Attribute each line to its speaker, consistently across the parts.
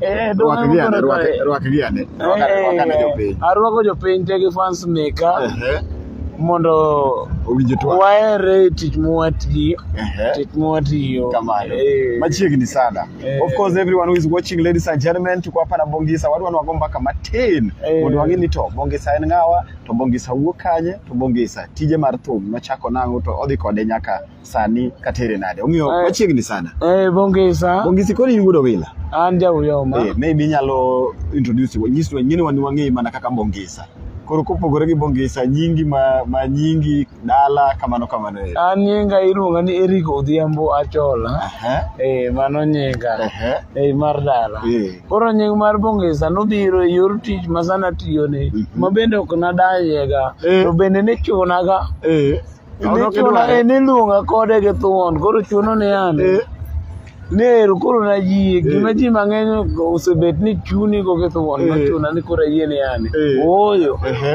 Speaker 1: Eh, dwoko Rwakgi ane, koro rwak- kae. rwakgi ane. Eh, Rwakane, rwakane jopiny.
Speaker 2: arwako jopiny te gi fans meka Ehe, mondo owinjo twak. waere e tich mwatiyo Ehe. tich mwatiyo Kamano.
Speaker 1: Eh. Machiegni sana. Eh. Of course everyone who is watching ladies and gentlemen tuko hapa na Bongisa wadwa ni wago mbaka matin Eh. mondo wang'e ni to Bongisa en ng'awa to Bongisa wuok kanye to Bongisa tije mar thum nochako nang'o to odhi kode nyaka sani katere nade omiyo eh. wachiegni sana eh bongisa bongisi koni yudo bila an ja uyo ma eh
Speaker 2: maybe inyalo
Speaker 1: introduce wa nyiswa nyini wani wangi mana kaka bongisa koro kopogore gi bongisa nyingi ma, ma nyingi dala kamano kamano eh an nyinga
Speaker 2: iluonga ni Eric Odhiambo Achola uh -huh. eh mano nyinga uh -huh. eh mar dala eh. koro nying mar bongisa nobiro e yor tich masana tiyo ni uh mhm. -huh. mabende ok nadanyega eh. to bende ne chunaga eh Odok Nichuno idware. ni niluonga kode gi thuon koro chuno ni an Eh, ner koro nayie gima ji mang'eny osebet ni chuni go gi thuon Eh. nochuna ni koro ayie ni an Eh. ooyo ehe.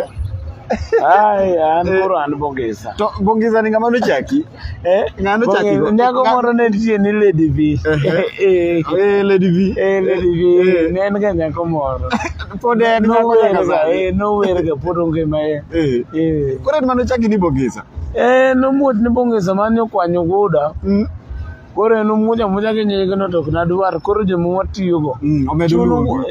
Speaker 2: ai an Eh. koro an bongisa To bongeza ni ng'ama
Speaker 1: nochaki? Eh, Ng'ano chaki go? nyako Ng'a- moro ne nitie
Speaker 2: ni lady v Ehe. Eh, Eh,
Speaker 1: Lady V. eh, lady v Eh. ne
Speaker 2: en ga nyako moro Pode no
Speaker 1: não era, é, não era
Speaker 2: que por um que mais. É. Quando ele
Speaker 1: mandou chaki ni bongeza. É, não muito
Speaker 2: ni bongeza, mas não com a nhogoda. Koro en omuja muja gi nyige no tok nadwar koro joma watiyogo mm,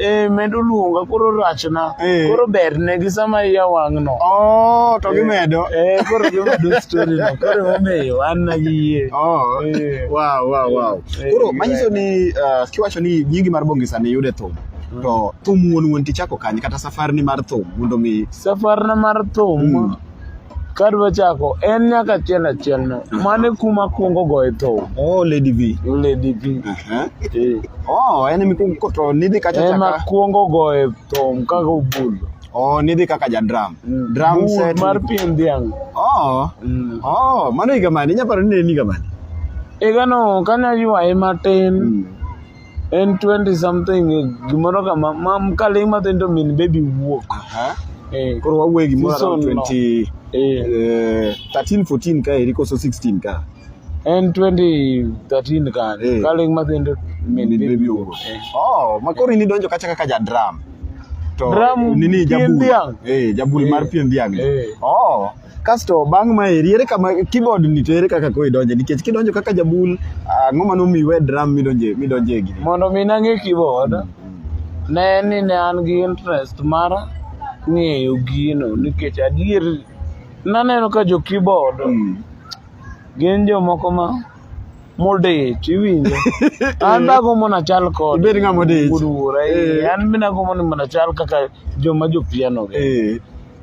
Speaker 2: eh,
Speaker 1: medo
Speaker 2: luonga koro rachna eh. koro berne gi sama iya wang'no oh, to eh, gimedo koro gimedo
Speaker 1: story no koro emomiyo an
Speaker 2: nagiyie oh,
Speaker 1: koro manyiso ni uh, kiwacho ni nyingi mar bongisa ni yude thum to thum wuon wuon tichako kanye kata safarni mar thum mondo mi safarna mar
Speaker 2: thum Mm. kadwa chako en nyaka achiel achiel no mane kuma kwongo goye thum oh lady v
Speaker 1: lady v Aha. Eh, oh en mikuko to nidhi kacha ema chaka kwongo goye
Speaker 2: thum kaka obulo oh nidhi kaka
Speaker 1: ja drum Mm. drum Bul set mar pien dhiang'
Speaker 2: oh Mm.
Speaker 1: oh mano higa mane inyaparo ni ne en higa mane igano
Speaker 2: kane aywaye matin Mm. en 20 something gimoro kama ma kaling' matin to min baby wuok eh. koro
Speaker 1: wawuoye gimoro around 20 eh. 13 eh, 14 ka eri koso 16 ka en 2013 ka
Speaker 2: eh. kaling' matin to min baby wuok eh. oh ma koro ini
Speaker 1: donjo kacha kaka ja drum to drum nini
Speaker 2: jabul eh
Speaker 1: jabul mar pien dhiang' eh oh Kasto bang' ma eri ere kama keyboard ni to ere kaka koro idonje nikech kidonjo kaka jabul ang'o ma nomiyi we drum midonje midonje gini. Mondo mi nang'e
Speaker 2: keyboard ne en ni ne an gi interest mar ng'eyo gino nikech adier naneno ka jo keyboard Mm. gin jomoko ma modich iwinjo an be agombo na chal kod Ibed ng'ama odich.
Speaker 1: wuora eh. Eh. an be
Speaker 2: nagombo ni mondo achal kaka joma jopiano gi Eh.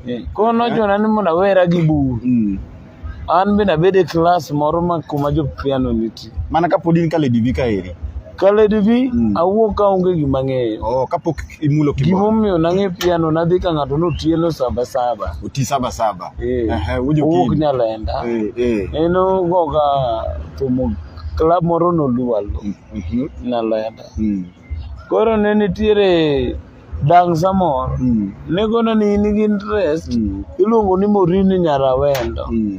Speaker 2: Eh, koro nochuna ni mondo awera gi bur Mm. an be nabed e klas moro ma kuma jopiano nitie Mana kapod in ka Lady
Speaker 1: V kaeri. ka Lady V
Speaker 2: Mm. awuok ka onge gima ng'eyo Oh, kapok imulo
Speaker 1: kibao. gimomiyo nang'e piano
Speaker 2: nadhi ka ng'ato notielo saba saba Oti saba saba.
Speaker 1: Eh. Ehe, uje
Speaker 2: Owuok okinyi. Nyalenda. Eh, eh. En ogoga tumo club moro noluwalo Mhm. Nyalenda. Mm. Koro ne nitiere dang' samoro. Mm. Ne gona ni in gi interest. Mm. Iluongo ni Morini Nyarawendo. Mm.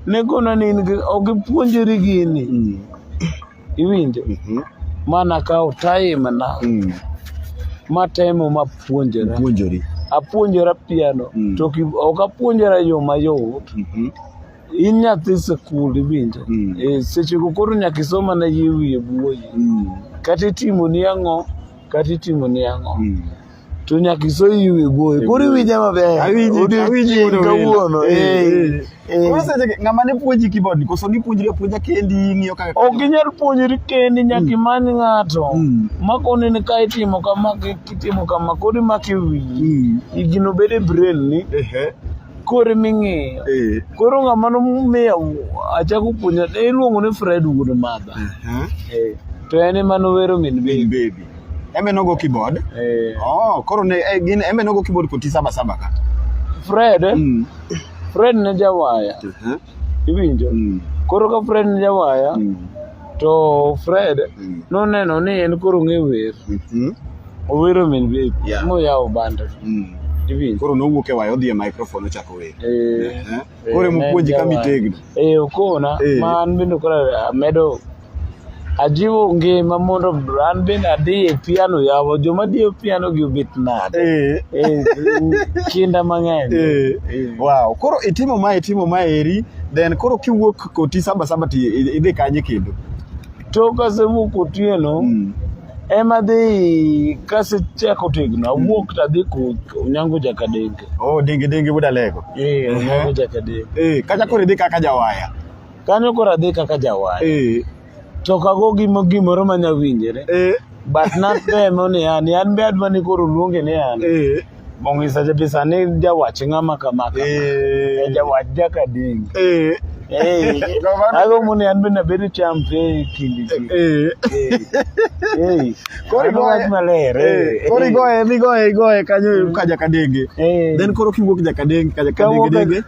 Speaker 2: Ne gona ni in gi ok ipuonjori gini. Mm. iwinjo Mhm. mana kawo time na Mm. matemo mapuonjora Puonjori. apuonjora piano Mm. to ki- ok apuonjora yo mayot Mhm. in nyathi sikul iwinjo Mm. Eh, sechego koro nyaka isoma na yie wiye buoyi Mm. kata itimoni ang'o kata itimoni ang'o Mm. to nyaka isoyi iwe goyo koro iwinje maber odiochieng' kawuono eh,
Speaker 1: eh. ng'ama ne puonji kibod koso nipuonjri apuonja kendi ng'iyo kaka ok inyal puonjri
Speaker 2: kendi nyaka mm. imany ng'ato mm. makoni ni ka itimo kama kitimo kama koro imako e wiyi mm. igino bedo e brain ni koro ming'iyo eh. koro ng'ama nomiya achako puonja iluongo ni fred wuod madha to en ema nowero min bebi Embe nogo
Speaker 1: keyboard. Eh. Oh, koro ne eh, gin embe nogo keyboard koti saba saba ka. Fred, Mm.
Speaker 2: Fred ne jawaya. Uh-huh. Iwinjo? Mm. Koro ka Fred ne jawaya, Mm. to Fred Mm. noneno ni en koro ng'e wer. Mhm. Owero min baby. Yeah. Moyawo banda. Mm. Iwinjo? Koro
Speaker 1: nowuok e waya odhi e microphone ochako wer. Eh. Eh. Koro emopuonji ka mitegno. Eh, okona.
Speaker 2: Eh. Ma an bende koro amedo Ajiwo ngima mondo an bende adhi e piano yawa joma dhi e piano gi obet nade. Eh. Eh, kinda mang'eny. Eh. Eh. Wow, koro
Speaker 1: itimo ma itimo ma eri then koro kiwuok koti saba saba ti idhi kanye kendo. To
Speaker 2: kasewuok otieno mm. ema dhi kasechako tegno awuok mm. tadhi onyango jakadenge. Oh, denge denge buda
Speaker 1: lego. Eh, onyango eh.
Speaker 2: jakadenge. Eh, kacha koro idhi kaka
Speaker 1: jawaya. kanyo koro adhi
Speaker 2: kaka jawar Eh, to ok ago gimo- gimoro manya winjore eh, but natemo ni an an be adwa ni koro luonge ni an eh, mong'isa jabisa ni jawach ng'ama kama kama eh, Eh, jawach jakading eh, Eh, Kamano. agombo ni an be nabed champe e kindi ji eh. Eh, Koro mano igoye- wach maler eh, eh, koro eh. igoye migoye igoye kanyo ka jakadenge Eh. then koro kiwuok
Speaker 1: jakadenge ka Kawuok- jakadenge denge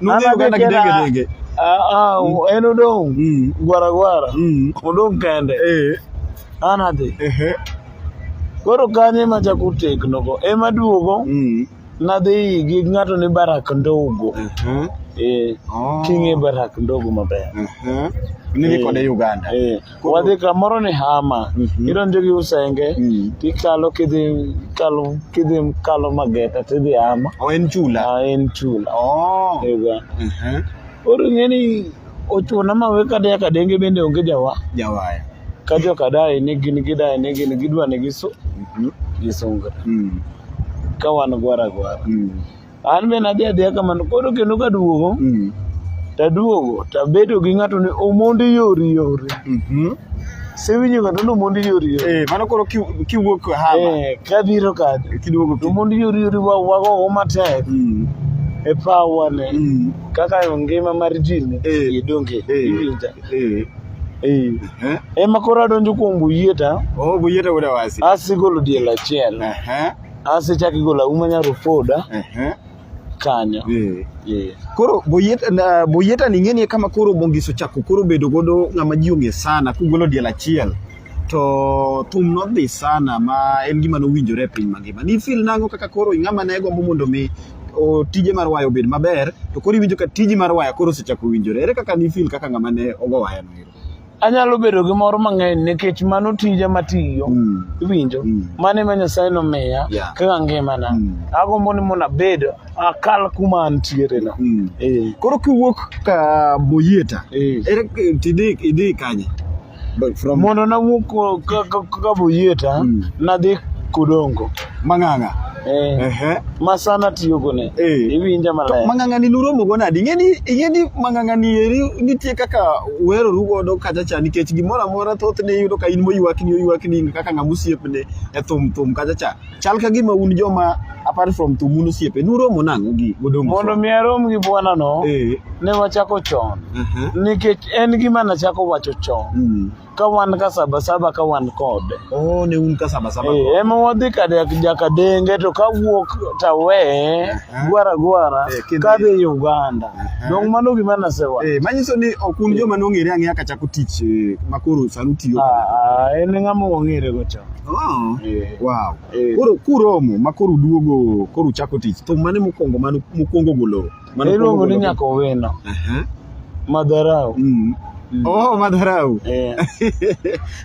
Speaker 1: Nudhi An Uganda adhi tena- kidenge denge. Ah, ah,
Speaker 2: en odong Mm. gwara gwara Mm. odong kende Eh. an adhi Ehe. koro kanyo ema chako tegnogo ema duogo Mm. nadhi gi ng'ato ni barak ndogo Ehe. eh, Oh. ting'e barak ndogo maber Ehe. Nidhi
Speaker 1: kode Uganda. eh. wadhi kamoro
Speaker 2: ni hama Mhm. idonjo gi usenge Mm. tikalo kidhi kalo kidhi kalo mageta tidhi hama O en chula. Ah, en
Speaker 1: chula
Speaker 2: Oh. Ega. Mhm. koro ing'e ni ochuna ma we kadaya kadenge bende onge jawa Jawaya.
Speaker 1: ka jokadaye
Speaker 2: ni gin gidaye ni gin gidwa ni gisu Mhm. gisungra Mm. ka wan gwara gwara Mm. an be nadhi adhiya kamano koro kendo kaduogo mm. taduogo tabedo gi ng'ato ni omondi yori yori mhm. sewinjo ng'ato ni omondi yori yori eh, mano koro
Speaker 1: kiwuok hama eh, kabiro kade
Speaker 2: omondi yori
Speaker 1: yori
Speaker 2: wagogo matek mm. e pawa ne mm. kaka ngima mar ji ne eh. idonge iwinja Eh. Ema koro adonjo kuom Buyeta. Oh, Buyeta wuod Awasi.
Speaker 1: Asigolo diel achiel.
Speaker 2: Uh -huh. Ase chaki gola umanya rufoda. Ehe. Kanyo. Eh. Eh.
Speaker 1: Koro boyeta na- boyeta ni ng'eni kama koro bongiso chako koro bedo godo ng'ama ji ong'e sana kugolo diel achiel to thum nodhi sana ma en gima nowinjore e piny mangima. Ni feel nango kaka koro ng'ama ne gombo mondo mi o, tije mar waya obed maber to koro iwinjo ka tiji mar waya koro osechako winjore. Ere kaka ni feel kaka ng'ama ne ogo waya no ero? anyalo bedo
Speaker 2: gi mor mang'eny nikech mano tija matiyo mm. iwinjo mm. mano ema nyasaye nomiya yeah. kaka ngimana mm. agombo ni mondo abed akal kuma antiere no mm. e. koro kiwuok ka boyeta e. ere tidi idi kanye mondo nawuok ka boyeta mm. nadhi kodongo Mang'ang'a.
Speaker 1: Eh. Ehe.
Speaker 2: Ma sana tiyogo ne. Eh. Iwinja maler. Mang'ang'a ni nuromo go nadi?
Speaker 1: Ing'e ni ing'e ni mang'ang'a ni eri nitie kaka weroru godo kacha cha nikech gimoro amora thothne iyudo ka in moywakni oywakni kaka ng'ama osiepne e thum thum kacha cha. Chal ka gima un joma apart from thum un osiepe nuromo nang'o gi godong. Mondo mi arom gi
Speaker 2: bwana no. Eh. Ne wachako chon. Ehe. Nikech en gima nachako wacho chon. Mm. ka wan ka sabasaba ka wan kode oh ne un ka
Speaker 1: sabasaba eh ema wadhi ka
Speaker 2: jakadenge to ka wuok tawe gwara gwara eh, ka dhi Uganda dong mano gima nasewa eh manyiso ni ok un
Speaker 1: joma nong'ere ang'eya ka chako tich eh, makoro sanu tiyo ah, ah en ng'ama
Speaker 2: ong'ere go cha Oh, eh. wow.
Speaker 1: Eh. Koro kuromo ma koro duogo koro chako tich to mane mokwongo mane mokwongo golo Mano Iluongo ni kuongo- nyaka
Speaker 2: owino. Aha. Madharau. Mm. Oh,
Speaker 1: madharau. Eh.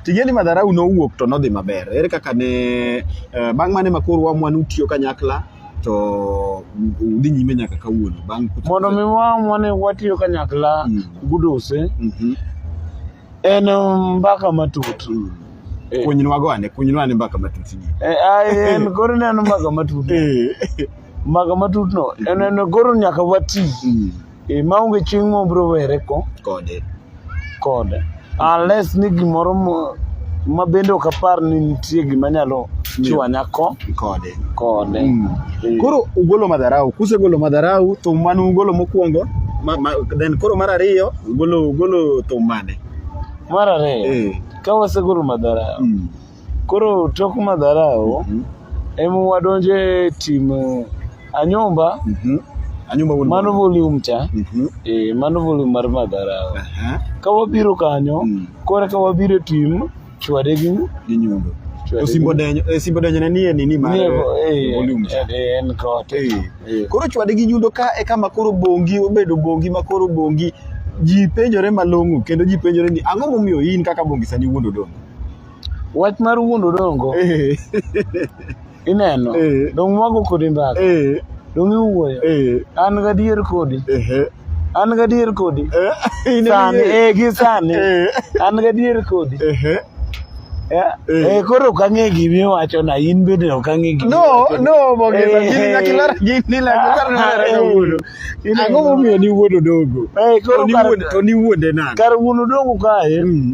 Speaker 1: Tigeni madharau nowuok to nodhi maber. Ere kaka ne eh, bang' mane makoro wa mwan utiyo kanyakla to udhi nyime nyaka kawuono bang' Mondo mi wamwa
Speaker 2: ni watiyo kanyakla Mm. gudose Mhm. En um, mbaka matut. Eh. Kunywa
Speaker 1: gwane, kunywa ni mbaka matut. Eh, ai en koro
Speaker 2: neno mbaka matut. Eh. Mbaka matut no, en en koro nyaka wati. Mm. E maonge chieng' ma obiro were ko kode. Kode. Unless ni gimoro mo- ma bende ok apar ni nitie gima nyalo chwanya ko Kode.
Speaker 1: kode. Mm. Eh.
Speaker 2: Koro ugolo madharau,
Speaker 1: kusegolo madharau to mano ugolo mokwongo, ma, ma, then koro mar ariyo Golo golo thum mane? Mar ariyo,
Speaker 2: Eh. ka wasegolo madharau, Mm. koro tok madharau Mhm. em wadonjo e tim eh, anyumba Mhm. Anyumba wuon mano mwandu. volume cha Mhm. eh, mano volume mar madharau Aha. ka wabiro kanyo Mm. kore ka wabiro e tim chwade gi gi nyundo
Speaker 1: osimbo denyo eh, simbo denyo ne nie nini mar eh, eh, volume en kote
Speaker 2: koro chwade gi
Speaker 1: nyundo ka e kama koro bongi obedo bongi ma koro bongi ji penjore malong'o kendo ji penjore ni ang'o momiyo in kaka bongi sani wuondo dongo wach
Speaker 2: mar wuondo dongo ineno Eh. dong mwago kodi mbaka Eh, dong iwuoyo eh, an gadier kodi ehe. an gadier kodi Eh, in sani iye. eh gi sani Eh, an gadier kodi ehe. Eh, Eh. eh koro ok ang'e gimi wacho na in bende ok ang'e gimi No, wacho. no, Mogesa,
Speaker 1: Eh, gini nyaka ilar- gini nyaka ilar na Ah, eh, kawuono. ineno. Ang'o momiyo niwuodo dogo? Eh, koro To kar- niwuonde- to niwuonde nade? kar wuon odongo kae
Speaker 2: Mm.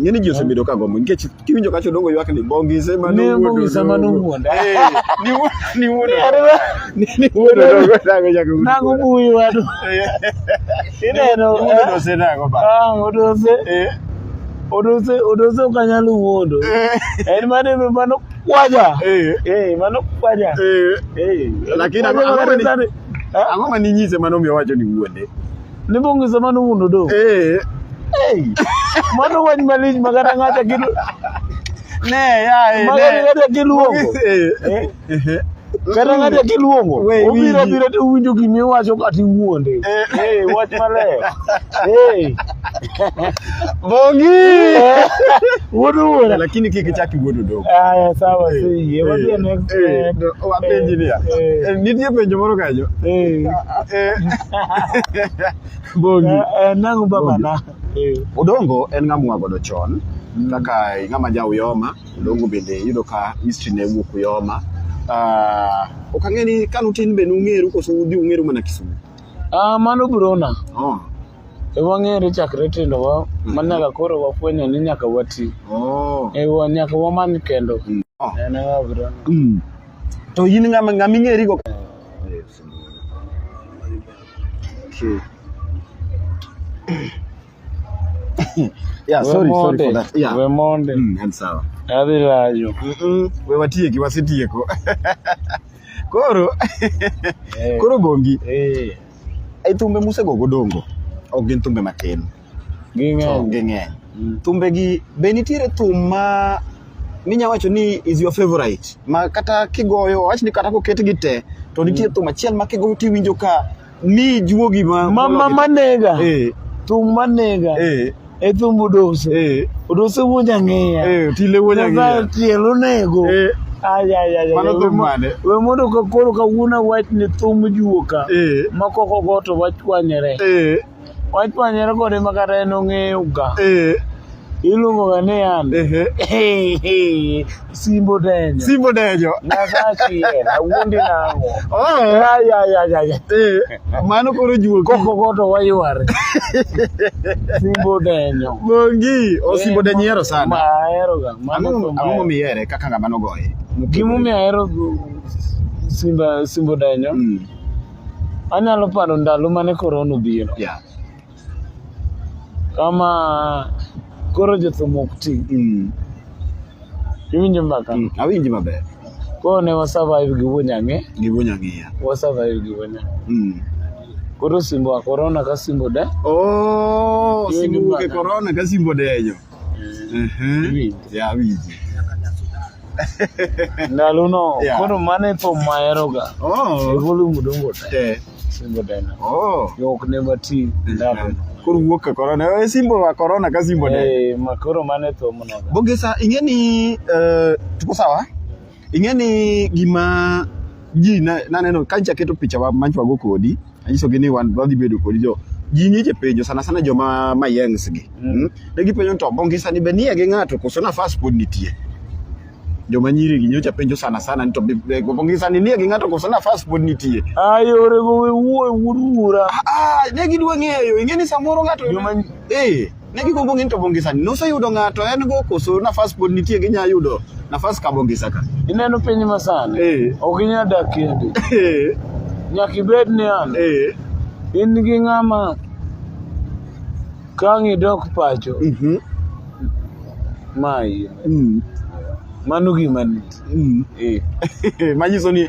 Speaker 1: Ng'eni ji osebedo ka gombo nikech kiwinjo kacho dongo ywak ni bongi sema Ne no bongi sama no
Speaker 2: wuonda. Eh, ni wuo-
Speaker 1: ni wuodo. Ni ni wuodo dongo nago jago. Nago buyi wadu.
Speaker 2: Ineno. Wuodo osenago
Speaker 1: ba. Ah, odose. Eh,
Speaker 2: Odose, odose ok anyal wuondo. eh, En mane mano kwaja. eh, Eh, mano kwaja. eh. Eh,
Speaker 1: Lakini kwaja ang'o- ang'o mane- mane- Ah? Ang'o ma ninyise mano omiyo wacho ni wuonde? Ni bonge sama
Speaker 2: no wundo do. Eh. Hey. Mano wany malich magana ng'ata gidu. Ne ya eh. Magana ng'ata giluongo. Eh. eh. Kata ng'ata giluongo. Obiro biro to winjo gimi wacho kati wuonde. Eh, eh wach maler. Eh.
Speaker 1: Bongi.
Speaker 2: Wuod wuora. Lakini kiki
Speaker 1: chaki wuod odoko. Aya sawa eh, si.
Speaker 2: Ye wadhi eh, next. Eh, wapenji
Speaker 1: ni. Eh, nitie penjo moro kanyo. Eh. eh. Bongi. Eh, nangu baba
Speaker 2: na. Odongo
Speaker 1: en ng'amwa godo chon mm. kaka ng'ama ja Uyoma, Odongo bende yudo ka history ne wuok Uyoma. Ah, uh, ok ang'e ni kanu tin be nung'eru koso udhi ung'eru mana Kisumu? Ah, uh, mano
Speaker 2: brona. Oh. E wang'ere chakre tindowa ma nyaka koro wafwenyo ni nyaka wati. Oh. E wa nyaka wamany kendo. Mm. Oh. En ng'a bro. Mm.
Speaker 1: To in ng'ama ng'ama ing'eri go. Okay. yeah, sorry, sorry for that. Yeah. We're Monday. Mm, and
Speaker 2: so.
Speaker 1: Adhi lajo. Mm
Speaker 2: -mm. We watieki,
Speaker 1: wasetieko. Koro. Eh. Koro bongi. Eh. Ai thumbe musego godongo ok gin thumbe matin. Ging'eny. Ging'eny. Mm. Thumbe gi be nitiere thum ma minya wacho ni is your favorite ma kata kigoyo wach ni kata koket gi te to nitie mm. thum achiel ma kigoyo tiwinjo ka ni juogi ma ma ma manega.
Speaker 2: Eh. Thum manega. Eh. ethum udose eh. udose wuonja ng'iya eh, tile wuonja ng'iya
Speaker 1: tiel onego
Speaker 2: eh.
Speaker 1: we mondo ka koro
Speaker 2: kawuono awach ni thum juoka ma koko go to wachwanyore wachwanyore kode ma kata en ong'eyoga iluongoga ni an Simbo Denyo. Simbo Denyo.
Speaker 1: Nasachi en,
Speaker 2: awuondi nango. Oh, ya, ya, ya, ya, ya.
Speaker 1: Eh, mano koro juo. Koko koto wayuare.
Speaker 2: Simbo Denyo. Mongi, o oh, Simbo
Speaker 1: Denyo yero sana. Ma yero ga.
Speaker 2: Mano amo mi yere
Speaker 1: kaka ngama no goye. Gimu mi yero
Speaker 2: Simba Simbo Denyo. Mm. Anyalo paro ndalo mane korona obiro. Yeah. kama koro jothum ok ti mm. iwinjo mbaka mm, awinji maber
Speaker 1: koro ne
Speaker 2: wasurvive gi wunyang'e gi wunyang'iya
Speaker 1: wasurvive gi wunyang'e
Speaker 2: mm. koro simbo wa korona ka simbo de oh,
Speaker 1: simbo wuok e korona ka simbo denyo Mhm. Yeah, winji.
Speaker 2: Ndalono Yeah. koro mano e thum maheroga. E Oh. volume dongo te. Eh. Singo tena. Oh. Yok ne mati ndalono. Koro wuok ka corona.
Speaker 1: Eh, Simbo wa corona ka simbo ne. Eh, ma koro mano e thum
Speaker 2: noga. Bogesa ing'e ni
Speaker 1: eh, tuko sawa? Ing'e ni gima ji na- naneno ka nyicha keto picha wa- manchwago kodi anyisogi ni wan wadhi bedo kodi jo ji nyiche penjo sana sana joma mayengs gi Mm. mm. ne gipenjo ni to bongisa ni be nie gi ng'ato koso nafas pod nitie joma nyiri gi nyocha penjo sana sana ni to be- be- bongisa ni nie gi ng'ato koso nafas pod nitie Ayorego we
Speaker 2: wuo wuod wuora. ah, ah, ne
Speaker 1: gidwa ng'eyo ing'e ni samoro ng'ato Joma- eh Ne gikumbo ng'in to bongisa ni noseyudo ng'ato en go koso nafas pod nitie ginya yudo nafas ka bongisa ka. Ineno piny masani.
Speaker 2: Eh. Ok inya dak kendi. Eh. Nyaka ibed ni an. Eh. In gi ng'ama kang' idok pacho. Mm -hmm. Mayi. Mm. Mano gima nit. Mm. Eh. Manyiso
Speaker 1: ni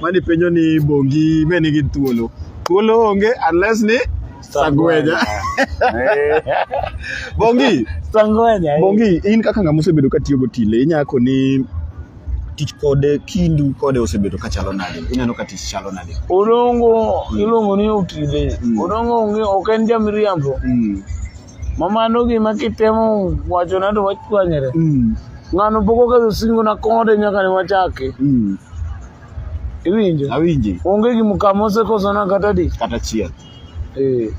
Speaker 1: mani penjo ni bongi be nigi thuolo thuolo onge unless ni sagweja bongi Sangwenya. bongi in kaka ng'ama osebedo ka tiyo gotile inyako ni tich kode kindu kode osebedo ka chalo nade ineno ka tich chalo nade Odongo
Speaker 2: iluongo ni otile. Mm. Odongo onge ok en jamiriambo. mm. Ma mano gima kitemo wachona to wachwanyre. Mm. Ng'ano pok oketho singona kode nyaka ne wachake. Mm. Iwinjo? Awinji. Onge gima
Speaker 1: kama
Speaker 2: osekosona kata di. Kata chiel. Eh.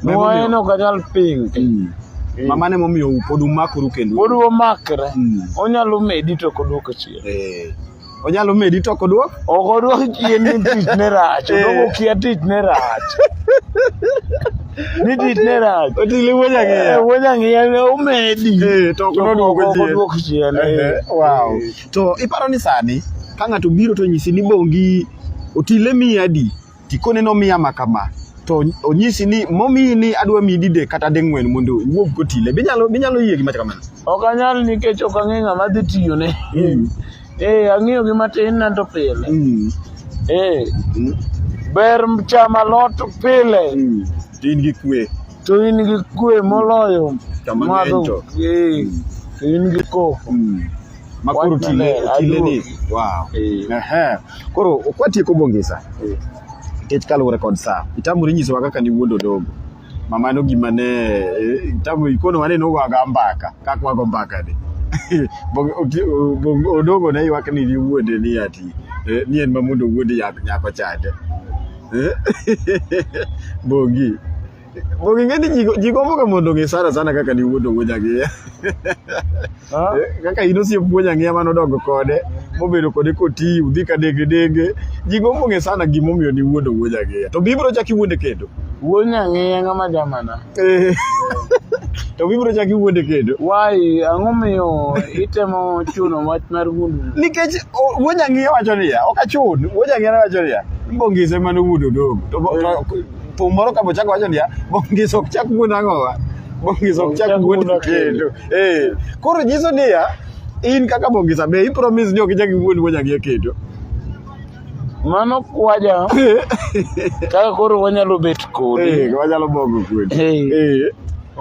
Speaker 2: Memo Mwaye miyo- no kanyal ping. Mm. Eh. Mama ne
Speaker 1: momiyo pod umakoru kendo. Pod wamakre.
Speaker 2: Mm. Onyalo medi to ok odwoko chien. Eh. Onyalo
Speaker 1: medi to kodwok? Ok odwok chien
Speaker 2: ni tich ne rach. Eh. Odwoko kia tich ne rach. Ni tich ne rach. Otile wuonya ng'iya. Eh,
Speaker 1: wuonya ng'iya ne
Speaker 2: omedi. Eh, to
Speaker 1: kodwok chien.
Speaker 2: Wow.
Speaker 1: To iparo ni sani ka ng'ato biro to nyisi ni bongi otile miya adi? Tikone nomiya ma kama, to onyisi ni momiyi ni adwa miyi didek kata ding'wen mondo iwuog kotile. Binyalo binyalo yie gi mach kamano? Ok anyal nikech
Speaker 2: ok ang'e ng'ama adhi tiyone. Mm. Eh, ang'iyo gi matin na to pile. Mm. Eh, Mm. ber chamo alot pile Mm. To in gi
Speaker 1: kwe. to in gi
Speaker 2: kwe moloyo Chama madho.
Speaker 1: ng'eny to. Eh,
Speaker 2: to in gi koko. Mm. Makoro
Speaker 1: Wach tile maler, tile ni. aduogi. Wow. Eh. Ehe. Koro kwatieko Bongisa, nikech kaluwore kod saa, itamori nyisowa kaka niwuondo dogo. Ma mano gima ne eh, itamori ikono wane nogoga mbaka, kaka wago mbaka ni. Bong- oti- o- bong- Odogo ne ywak ni niwuonde ni ati, eh, ni en ma mondo owuond yak- nyako chande. Eh? Bongi. Bonge ing'e ni ji- ji gomboga mondo ong'e sana sana kaka niwuondo wuoji ang'iya. Ah. Eh, Kaka in osiep wuoji ang'iya mane odongo kode, mobedo kode koti, udhi ka denge denge. Ji gombo ng'e sana gimomiyo niwuondo wuoji ang'iya. To bibiro chak iwuonde kendo. Wuon ang'eya
Speaker 2: ng'ama jamana. Eh,
Speaker 1: To bibiro chak iwuonde kendo. Wai, ang'o
Speaker 2: miyo itemo chuno wach mar wuondo? Nikech o- wuoji
Speaker 1: ang'iya wacho niya, ok achun. Wuoji ang'iya wacho niya, mbongise mane owuondo dogo. To bo- to- thum moro ka bochako wacho niya bongis ok chak wuon ang'owa bongis ok chak wuon kendo eh koro nyiso niya in kaka bongisa be i promise ni ok ichak wuon wuon ang'e kendo
Speaker 2: mano kwaja kaka koro wanyalo bet kodi eh wanyalo bogo kodi
Speaker 1: eh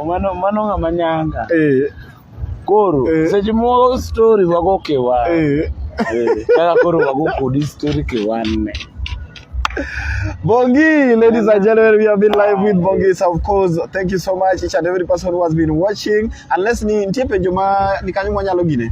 Speaker 1: mano mano
Speaker 2: ng'ama nyanga eh koro eh. seche moko story wago kiwan eh. eh, kaka koro wago kodi story kiwanne Bongi,
Speaker 1: ladies and gentlemen, we have been live with Bongi. So of course, thank you so much each and every person who has been watching. Unless ni ntie penjo ma ni kanyo mwanyalo gine.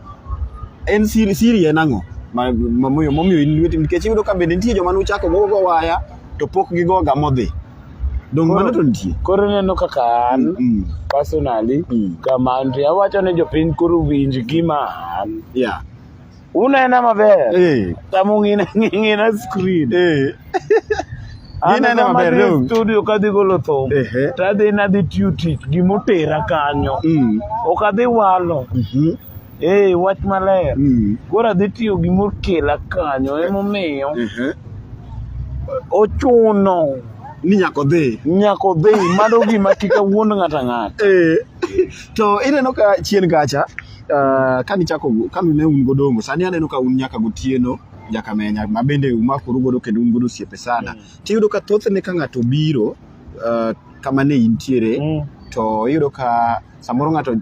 Speaker 1: en siri siri en ang'o ma- ma- momiyo momiyo in lweti nikech iyudo ka bende nitie joma nuchako go go waya to pok gigoga modhi dong Koro- mano to nitie Koro ineno kaka
Speaker 2: an Mm, personally Mm. kama antie awacho ni jopiny koro winj gima an. yeah Unena maber. Eh, Tamu ng'ina ng'ina screen. eh.
Speaker 1: Ginene maber Anadhi dong. studio kadhi golo
Speaker 2: thum Ehe. tadhi nadhi tiyo tich gimotera kanyo Mm. ok adhi walo Mhm. ee wach maler Mm. koro adhi tiyo gimokela kanyo emomiyo Ehe. ochuno Ni nyako dhi.
Speaker 1: nyako dhi mano
Speaker 2: gima kika wuond ng'ata ng'ata Eh, to
Speaker 1: ineno ka chien kacha uh, kanichako kane un godongo sani aneno ka un nyaka gotieno Jakamenya ma bende umakoru godo kendo un godo osiepe sana. Mm. Tiyudo ka thothne ka ng'ato biro uh, kama ne intiere mm. to iyudo ka samoro ng'ato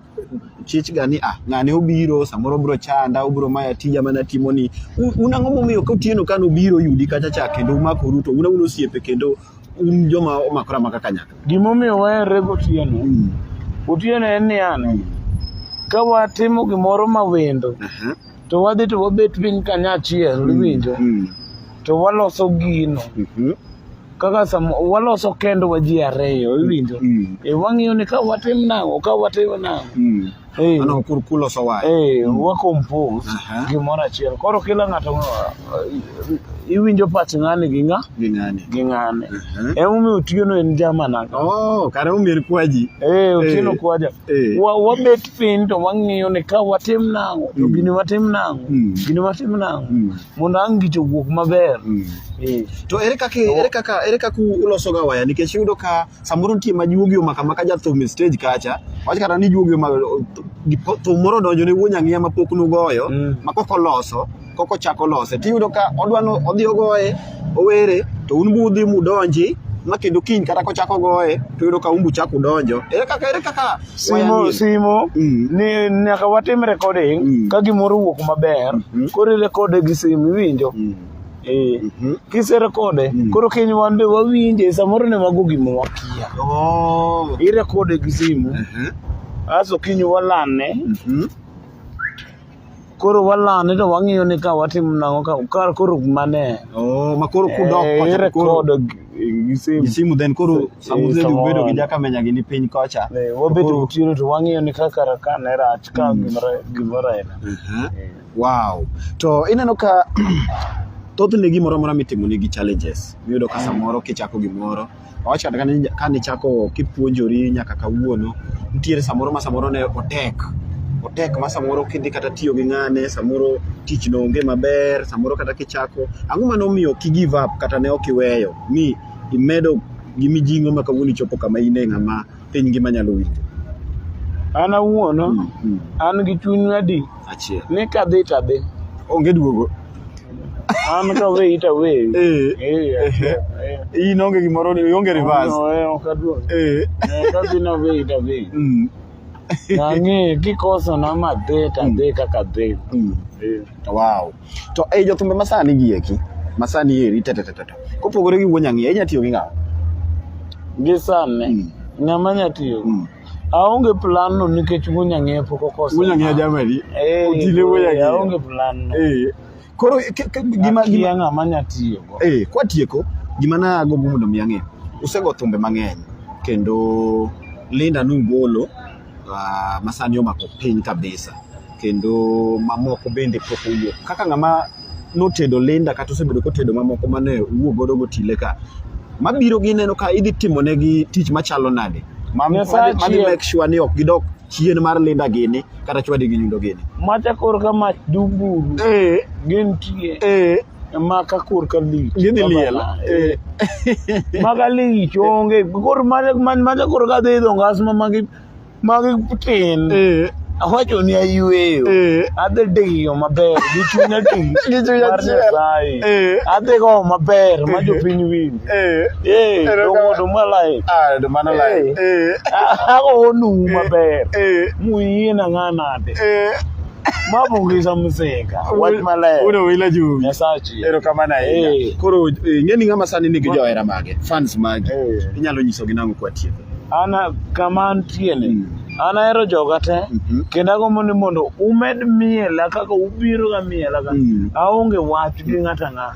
Speaker 1: chich ga ni ah ng'ani obiro samoro obiro chanda obiro maya tija mana timo ni un ang'o momiyo ka otieno ka nobiro yudi kacha cha kendo umakoru to un un osiepe kendo un joma omakora maka kanyakla gimomiyo waherre
Speaker 2: gotieno mm. otieno en ni an mm. ka watimo gimoro ma wendo uh -huh. to wadhi to wabet piny kanyachiel mm, iwinjo mm. to waloso gino mm-hmm. kaka sama waloso kendwa ji ariyo iwinjo mm. e wang'iyo ni ka watim nang'o ka watim
Speaker 1: nang'o eh. eh, wakompos
Speaker 2: gimoro achiel koro kila ng'ato eh, iwinjo pach ng'ani gi ng'a gi ng'ane uh-huh. emomiyo otieno en jamana oh, kare omiyo en
Speaker 1: kwaji otieno kwaja
Speaker 2: wabet piny to wang'iyo ni ka watim nang'o to mm. gini watim nang'o mm. gini watim nang'o mm. mondo ang' gicho wuok maber eh. to
Speaker 1: ere kaka ere kaka ere kaka uloso ga waya nikech yudo ka samoro nitie ma juogi omaka maka ja thum stage kacha wach kata ni juogi omaka thum moro donjo ne wuon ang'iya ma pok nugoyo ma kok oloso koko chako lose tiyudo ka odwa ni odhi ogoye owere to un budhi mudonji ma kendo kiny kata kochako goye to yudo ka umbu chako udonjo ere kaka ere kaka simo simo
Speaker 2: mm. ni nyaka watim recording mm. ka gimoro wuok maber mm -hmm. koro rekode gi simu iwinjo mm. Eh, mhm. kiserekode mm. koro kiny wan be wawinje samoro ne wago gima wakia oh. irekode gi simu mhm. aso kiny walane mhm. koro walane to wang'iyo ni ka watimo nang'o ka kar koro mane oh ma koro
Speaker 1: kudok eh, kocha to koro record
Speaker 2: gi simu gi simu then koro
Speaker 1: Eh, samudhi samoro. bedo gi jakamenya gi ni piny kocha Eh, wabedo Koro- tiro to
Speaker 2: wang'iyo ni ka kar ka ne rach ka gimoro gimoro aina Aha.
Speaker 1: wow to ineno ka thothne gimoro amora mitimo nigi challenges miyudo ka samoro kichako gimoro Awach kata ka ne chako kipuonjori nyaka kawuono, nitiere samoro ma samoro ne otek. Otek ma samoro kidhi kata tiyo gi ng'ane, samoro tich no onge maber, samoro kata kichako. Ang'o ma nomiyo ki give up kata ne ok iweyo mi imedo gi mijing'o ma kawuono ichopo kama in e ng'ama piny ngima nyalo winjo. An
Speaker 2: awuon mm, mm. an gi chuny adi achiel ni kadhi
Speaker 1: tadhi
Speaker 2: onge duogo
Speaker 1: an
Speaker 2: ka we ita we eh, eh, eh,
Speaker 1: in onge gimoro ni onge reverse ok aduog
Speaker 2: kadhi na we ita we mm. nang'e kikoso na madhi tadhi kaka dhi wow
Speaker 1: To ei jothumbe masani gi eki, masani eri teteteteto. Kopogore gi wuon nyang'iya, inya tiyo gi ng'awa. Gi
Speaker 2: sani, mm. ng'ama nya tiyo. Mm. Aonge plan no nikech wuon nyang'iya pok okosa. Wuon nyang'iya jamani.
Speaker 1: Eh, Otile wuon eh, nyang'iya. Aonge plan no. Eh.
Speaker 2: Koro
Speaker 1: gima gima ng'ama nya
Speaker 2: tiyo go. Eh, kwa tieko
Speaker 1: gima na agombo mondo mi ang'e. Usego thumbe mang'eny kendo Linda Nungolo Uh, masani omako piny kabisa kendo mamoko bende pok owuok kaka ng'ama notedo linda kata osebedo kotedo mamoko mane wuo godo gotile ka mabiro gineno ka idhi timo negi tich machalo nade mani make sure ni ok gidok chien mar linda gini kata chwadi gi nyundo gini macha kor ka mach
Speaker 2: duburu eh. gintie eh. ma ka kur ka lich Gidhi liel. Eh. ma ka lich onge kor mane man mane kor ka dhi idho ngas ma magi magi tin Eh, awacho ni ayweyo eh, adhi diyo maber gi chunya ti Gi chuny mar achiel. Nyasaye eh, adhi go maber ma jopiny winj eh. eh Ero ka- dongodo malai Ah, ndo mano lai.
Speaker 1: Eh. Eh, agonu
Speaker 2: eh, maber eh, muyie na ng'anade eh. mabungisa musinga wach maler uno wila juu
Speaker 1: nyasachi ero kama na
Speaker 2: hey. Eh. Eh.
Speaker 1: koro eh, ngeni ngama sani nigi johera mage fans mage hey. inyalo nyiso gi nango kwa tieko ana kama
Speaker 2: antie ni mm. an ahero joga te mm -hmm. kendo agombo ni mondo umed miela kaka ubiro ga miela ka mm. aonge wach gi ng'ata ng'ata